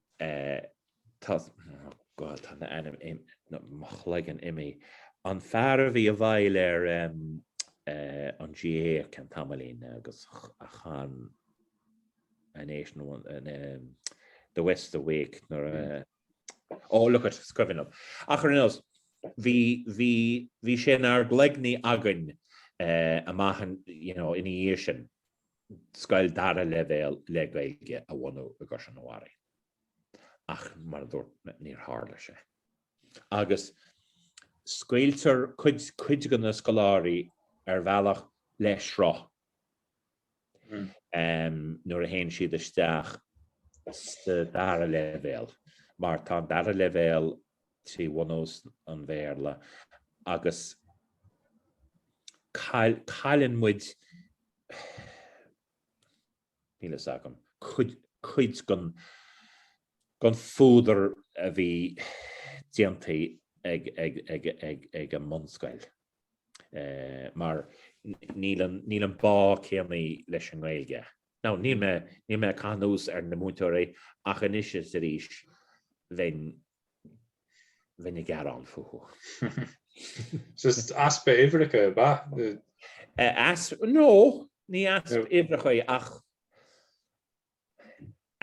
Tá, oh God, tá m'ainm im, no, mo chloigeann imithe. An fear a bhí i bhfeighil ar an GAA ceann tamaillín agus a chan An Ace nó an, The West's Awake nuair a, oh, look it, is cuimhin liom. Ach ar aon nós, bhí, bhí, bhí sé inár gcloigne againn amach in, you know, ina dhiaidh sin. scoil dara leibhéal le Gaeilge a bhunú i gCaisleán an Bharraigh. Ach mar a dúirt mé, níor tharla sé. Agus scaoiltear cuid cuid de na scoláirí ar bhealach le sruth um nuair a théann siad isteach sa dara leibhéal, mar tá an dara leibhéal trí bhunús an Bhéarla agus cailleann muid níl fhios agam, cuid den fuadar a bhí déanta ag an mbunscoil mar níl an bá céanna leis an nGaeilge. Now, níl mé ag caitheamh anuas ar na múinteoirí ach anois is arís bheinn Bheinn ag gearán fúthu. Is easpa uimhreacha é, ab ea? No, ní easpa uimhreacha é ach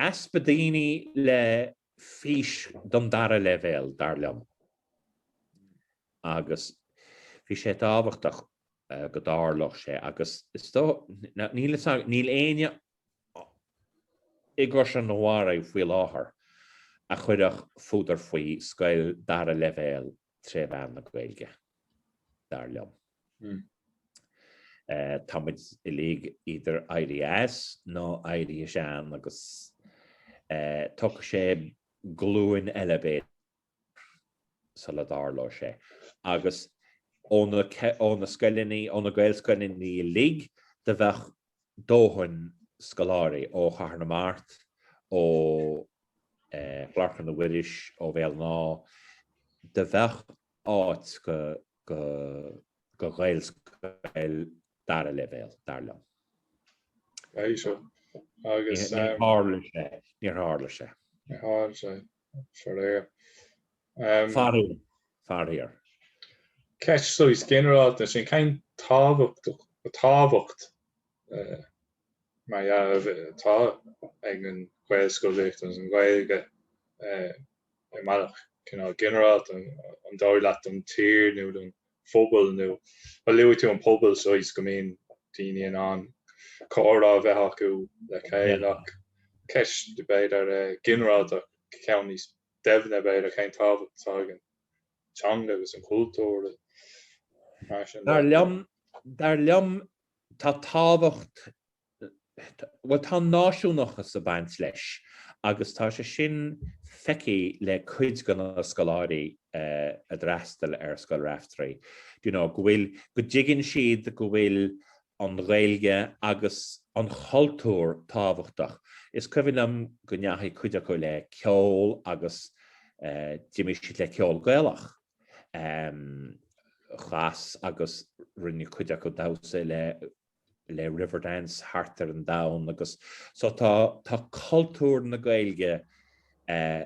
easpa daoine le fís don dara leibhéal, dar liom. Agus bhí sé tábhachtach go dtarlódh sé agus is dóigh, níl éinne i gCaisleán an Bharraigh faoi láthair a chuirfeadh fuadar faoi scoil dara leibhéal tré mheán na Gaeilge, dar liom. Tá muid uilig idir éirí as nó éirí sean agus tógfaidh sé glúin eile, b'fhéidir. sula dtarlódh sé. Agus ó na scoileanna, ó na Gaelscoileanna uilig, do bheadh dóthain scoláirí ó Chathair na Mart, ó Chlár Chlainne Mhuiris, ó Bhéal an Átha, do bheadh áit do Ghaelscoil dara leibhéal, dar liom. Níor tharla sé. Níor tharla sé. Faraor. Faraor. Faraor. Ceist saghas ginearálta sin, cén tábhacht más ea atá ag an Ghaelscolaíocht agus an Ghaeilge i mbealach cineál ginearálta? ansin dar leat don tír nó don phobal nó luaigh tú an pobal saghas go mbíonn daoine in ann comhrá a bheith acu le chéile ach ceist b'fhéidir ginearálta ach ceann níos doimhne b'fhéidir cén tábhacht atá ag an teanga agus an cultúr Dar liom dar liom tá tábhacht bhuel tá an náisiúnachas ag baint leis agus tá sé sin feicthe le cuid de na scoláirí a d'fhreastail ar Scoil Raifteirí, you know go bhfuil, go dtuigeann siad go bhfuil an Ghaeilge agus an cultúr tábhachtach. Is cuimhin liom go ndeachaigh cuid acu le ceol agus d'imir siad le ceol Gaelach, cheoil agus rinne cuid acu damhsa le le Riverdance thart ar an domhan agus so tá tá cultúr na Gaeilge eh,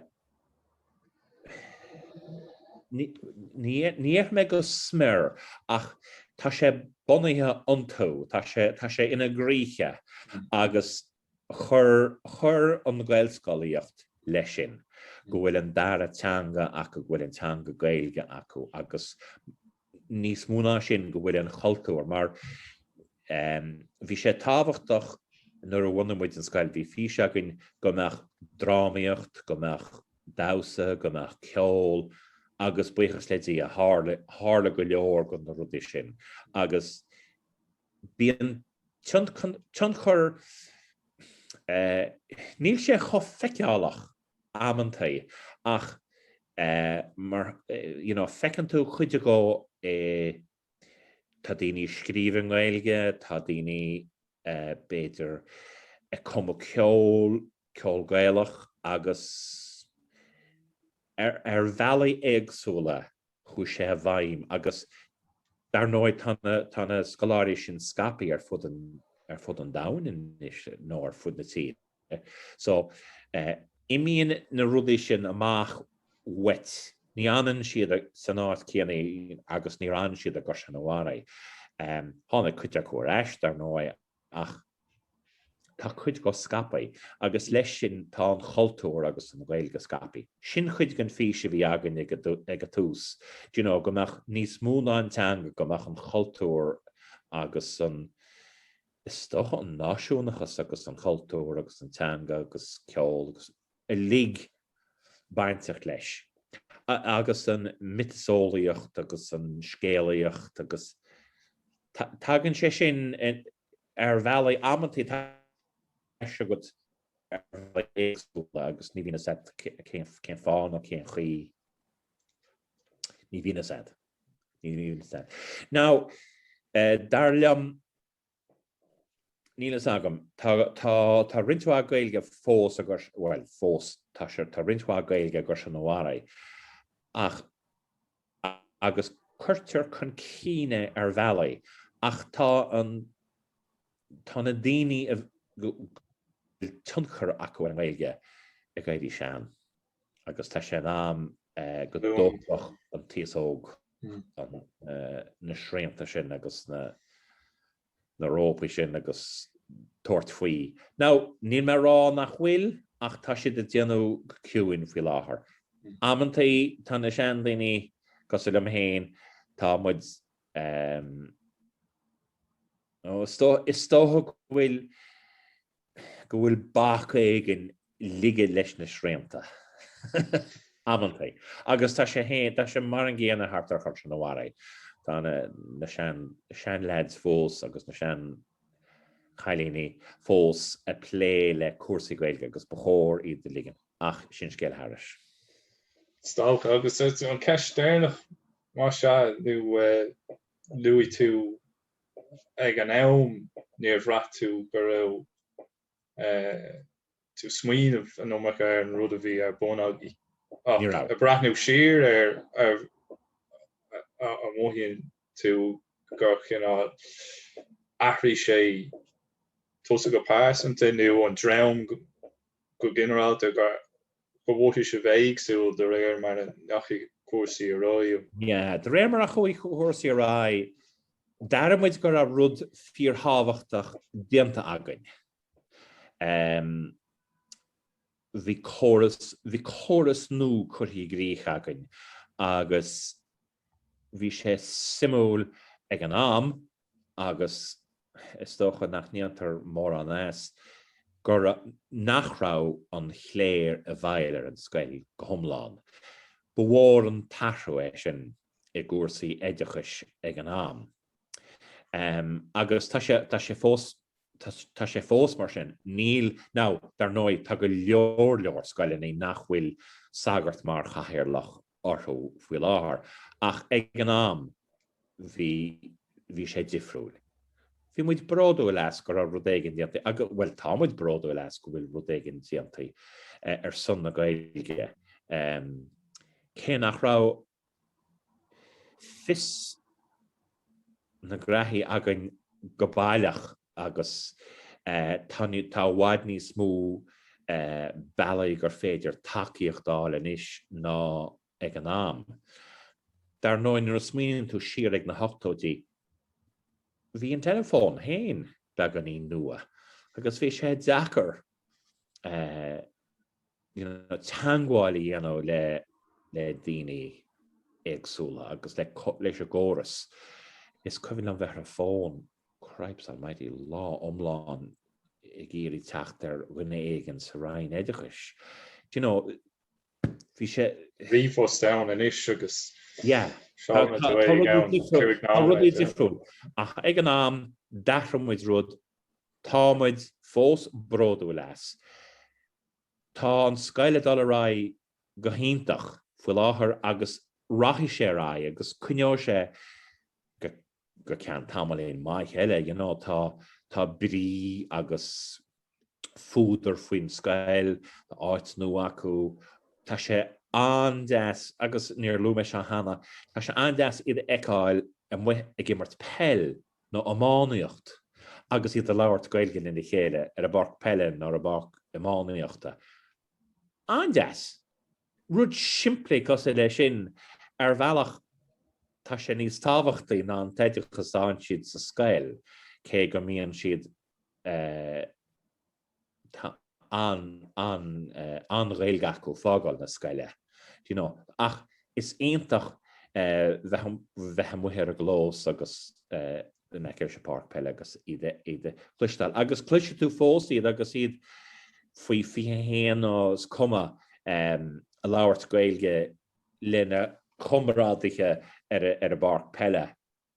ní ní déarfaidh mé go smior ach tá sé bunaithe iontu, tá sé ina gcroíthe agus Chuir an Ghaelscolaíocht leis sin, go bhfuil an dara teanga acu, go bhfuil an teanga Gaeilge acu agus níos mó ná sin go bhfuil an chultúr mar bhí sé tábhachtach nuair a bhunaigh muid an scoil, bhí fís againn go mbeadh drámaíocht, go mbeadh damhsa, go mbeadh ceol agus buíochas le Dia tharla go leor de na rudaí sin agus bíonn tionchar, níl sé chomh feiceálach amantaí ach mar you know feiceann tú cuid acu eh tá daoine ag scríobh i nGaeilge, tá daoine b'fhéidir ag cumadh ceol, ceol Gaelach agus ar bhealaí éagsúla chuaigh sé i bhfeidhm agus dar ndóigh tá na scoláirí sin scaipthe ar fud an ar fud an domhain anois nó ar fud na tíre so imíonn na rudaí sin amach uait ní fhanann siad san áit céanna agus níor fhan siad i gCaisleán an Bharraigh. Tháinig cuid acu ar ais dar ndóigh ach tá cuid acu scaipthe agus leis sin tá an chultúr agus an Ghaeilge scaipthe. Sin chuid den fís a bhí againn ag an tús, do you know, go mbeadh níos mó ná an teanga, go mbeadh an chultúr agus an, is dócha, an náisiúnachas agus an chultúr agus an teanga agus ceol agus. uilig bainteach leis, agus an mhiotaseolaíocht agus an scéalaíocht agus tagann sé sin ar bhealaí amantaí agus ní bhíonn fhios agat cén fáth nó cén chaoi ní bhíonn fhios agat. Ní bhíonn fhios agat. Now, eh, dar liom, Níl fhios agam. Tá, tá, tá roinnt mhaith Gaeilge fós agur, bhuel, fós, tá sé, tá roinnt mhaith Gaeilge i gCaisleán an Bharraigh, ach, agus cuirtear chun cinn é ar bhealaí, ach tá an, tá na daoine a bhfuil tionchar acu ar an nGaeilge ag éirí sean. agus tá sé in am go dtógfadh an t-aos óg na srianta sin agus na rópaí sin agus tabhairt faoi. Now, níl mé ag rá nach bhfuil, ach tá siad ag déanamh go ciúin faoi láthair. Amanntaí tá na seandaoine, cosúil liom féin, tá muid, is dócha go bhfuil go bhfuil bac éigin ligthe leis na srianta amanntaí agus tá sé féin, tá sé mar an gcéanna thart ar Chaisleán an Bharraigh. Tá na sean-leaids fós agus na sean-chailíní fós ag plé le cúrsaí Gaeilge agus ba chóir iad a ligean, ach sin scéal thairis. Stálta agus an ceist deireanach, más ea, nó luaigh tú ag an am níor bhraith tú go raibh tú ag smaoineamh an iomarca ar an rud a bhí ar bun agaibh ach ag breathnú siar air an mothaíonn tú gur chineál athraigh sé tusa go pearsanta nó an dream go ginearálta gur go bhféadfadh sé a bheith éagsúil de réir mar a ndeachaigh cúrsaí ar aghaidh. De réir mar a chuaigh cúrsaí ar aghaidh, d'airigh muid go raibh rud fíorthábhachtach déanta againn. Bhí córas, bhí córas nua curtha i gcrích againn agus bhí sé suimiúil ag an am agus is dócha nach ndéantar mórán as, gur, nach raibh an chléir i bhfeighil ar an scoil go hiomlán. Ba mhór an t-athrú é sin i gcúrsaí oideachais ag an am. Agus tá sé, tá sé fós, tá sé fós mar sin. Níl, now, dar ndóigh, tá go leor leor scoileanna nach bhfuil sagart mar chathaoirleach orthu faoi láthair, ach ag an am bhí bhí sé difriúil. Bhí muid bródúil as go raibh rud éigin déanta agus, bhuel, tá muid bródúil as go bhfuil rud éigin déanta ar son na Gaeilge, cé nach raibh fios, na graithí againn go baileach agus tá i bhfad níos mó bealaí gur féidir tacaíocht a fháil anois ná ag an am. Dar ndóigh nuair a smaoiníonn tú siar ar na hochtóidí bhí an teileafón féin beagáinín nua agus bhí sé deacair you know, teangmháil a dhéanamh le le daoine éagsúla agus le leis a gcóras. Is cuimhin liom bheith ar an bhfón, cripes almighty, lá iomlán ag iarraidh teacht ar dhuine éigin sa Roinn Oideachais. Do you know, bhí sé... tá ríomhphost ann anois agus... yeah. Tá rudaí difriúil. Ach ag an am, d'athraigh muid rud Tá muid fós bródúil as. Tá an scoil ag dul ar aghaidh go hiontach faoi láthair agus rachaidh sé ar aghaidh agus coinneoidh sé go ceann tamaillín maith eile, you know, tá, tá brí agus fuadar faoin scoil, tá áit nua acu, tá sé an-deas agus níor luaigh mé seo cheana, tá sé an-deas iad a fheiceáil amuigh ag imirt peile nó iománaíocht agus iad ag labhairt Gaeilge lena chéile ar a bpáirc peile nó ar a bpáirc iománaíochta. An-deas! Rud simplí cosúil leis sin, ar bhealach, tá sé níos tábhachtaí ná an t-oideachas a fhaigheann siad sa scoil, cé go mbíonn siad Tá an an an Ghaeilge acu ag fágáil na scoile do you know ach is iontach bheith bheith amuigh ar an gclós agus in aice ar sa páirc peile agus iad iad a chloisteáil agus cloisfidh tú fós iad agus iad faoi 21 nó is cuma ag labhairt Gaeilge lena chomrádaithe ar ar an bpáirc peile.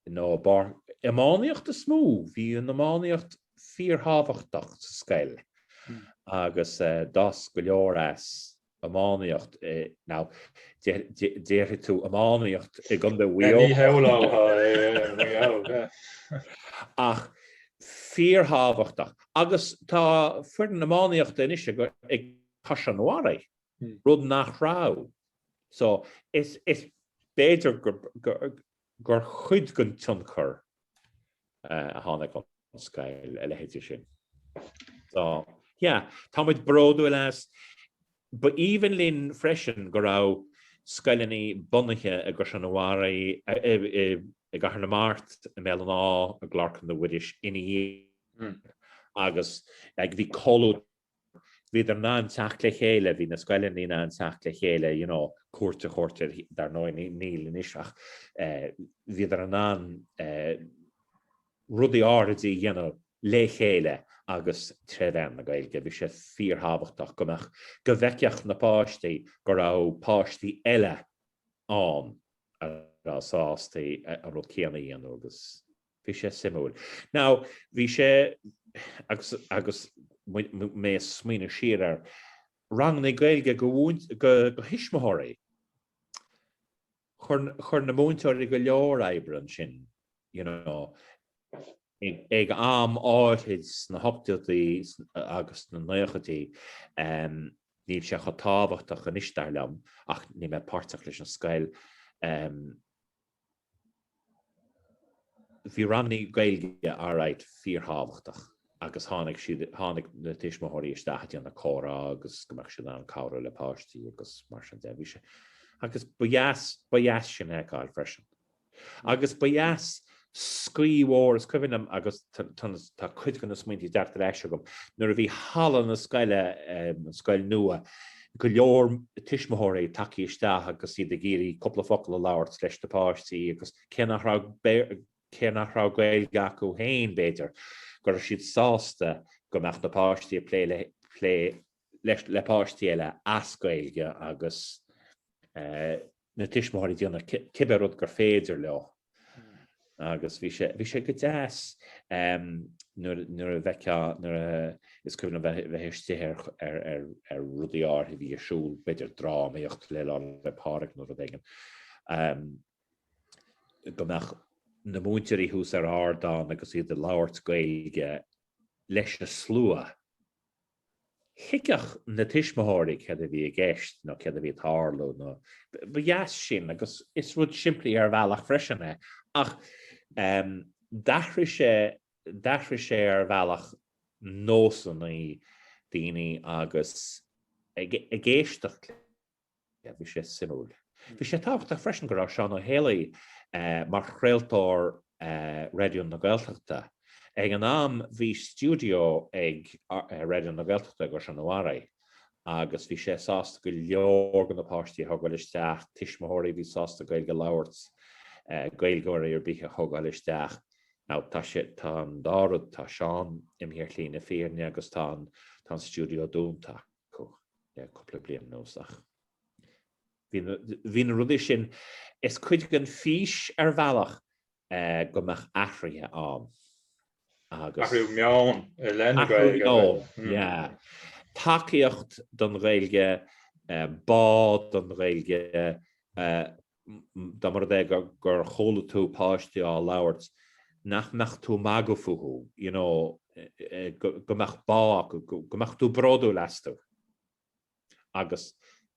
Nó ba ar iománaíocht is mó, bhí an iománaíocht fíorthábhachtach sa scoil agus d'fhás go leor as iománaíocht. Now, déarfaidh tú iománaíocht i gContae Mhaigh Eo. Ach fíorthábhachtach. Agus tá foireann iománaíochta anois ag Caisleán an Bharraigh, rud nach raibh. So, is b'fhéidir gur chuid den tionchar a tháinig ón scoil a leithéidí sin. So yeah, Tá muid bródúil as. Ba aoibhinn linn freisin go raibh scoileanna bunaithe i gCaisleán an Bharraigh i gCathair na Mart, i mBéal an Átha, i gClár Chlainne Mhuiris ina dhiaidh hmm. agus ag bhí comhlúad bhíodar in ann teacht le chéile, bhí na scoileanna in ann teacht le chéile you know cuairt a thabhairt ar, dar ndóigh níl anois ach eh bhíodar in ann eh rudaí áithride a dhéanamh le chéile agus tré mheán na Gaeilge. Bhí sé fíorthábhachtach go mbeadh, go bhfeicfeadh na páistí go raibh páistí eile ann a raibh sásta an rud céanna a dhéanamh agus. Bhí sé suimiúil. Now bhí sé, agus, agus mé ag smaoineamh siar ar rangannaí Gaeilge go, go, do thuismitheoirí. Chuir, chuir na múinteoirí go leor oibre ansin, you know, ag, ag am áirid sna hochtóidí agus sna naochaidí. Níl sé chomh tábhachtach anois, dar liom, ach níl mé páirteach leis an scoil. Bhí ranganna Gaeilge Alright fíorthábhachtach agus tháinig siad, tháinig na tuismitheoirí isteach ag déanamh comhrá agus go mbeadh siad in ann cabhrú le páistí agus mar sin de. Bhí sé, agus ba dheas, ba dheas sin a fheiceáil freisin. Agus ba dheas scaoth mhór, is cuimhin liom agus tá cuid de na smaointe ag teacht ar ais agam, nuair a bhí halla na scoile, an scoil nua, go leor tuismitheoirí tagthaí isteach agus iad ag iarraidh cúpla focal a labhairt leis na páistí agus cé nach raibh cé nach raibh Gaeilge acu féin b'fhéidir go raibh siad sásta go mbeadh na páistí ag plé le plé leis le páistí eile as Gaeilge agus na tuismitheoirí déanamh cibé rud gur féidir leo agus bhí sé bhí sé go deas nuair a d'fheicfeá nuair a is cuimhin liom bheith bheith istigh ar ar ar ar rudaí áirithe a bhí ar siúl, b'fhéidir drámaíocht le Lá 'le Pádraig nó rud éigin go mbeadh na múinteoirí thuas ar ardán agus iad ag labhairt Gaeilge leis a slua. thuigfeadh na tuismitheoirí céard a bhí i gceist nó céard a bhí ag tarlú nó ba dheas sin agus is rud simplí ar bhealach freisin é ach d'athraigh sé, d'athraigh sé ar bhealach nósanna daoine agus ag éisteacht le. Yeah, bhí sé suimiúil. Bhí sé tábhachtach freisin go raibh Seán Ó hÉalaí mar chraoltóir Raidió na Gaeltachta. Ag an am bhí stiúideo ag Raidió na Gaeltachta i gCaisleán an Bharraigh agus bhí sé sásta go leor de na páistí a thógáil isteach, tuismitheoirí a bhí sásta Gaeilge a labhairt, Gaeilgeoirí ar bith a thógáil isteach. Now tá sé, tá an dá rud, tá Seán imithe ar shlí na fírinne agus tá an stiúideo dúnta. cúpla bliain anuas ach bhí na rudaí sin is cuid den fhís ar bhealach go mbeadh athruithe ann agus. Athrú meoin i leith na Gaeilge. Athrú meoin, yeah. Tacaíocht don Ghaeilge, bá don Ghaeilge, dá mba rud é gur chuala tú páistí á labhairt nach mbeadh tú magadh fúthu, you know, go mbeadh bá acu, go mbeadh tú bródúil astu. Agus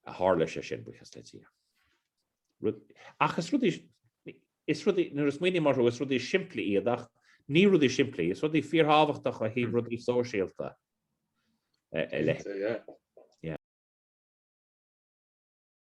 tharla sé sin, buíochas le Dia. Rud, ach is rudaí, is rudaí, nuair a smaoiním orthu, is rudaí simplí iad ach ní rudaí simplí, is rudaí fíorthábhachtacha ó thaobh rudaí sóisialta a leithéid. Cinnte, yeah.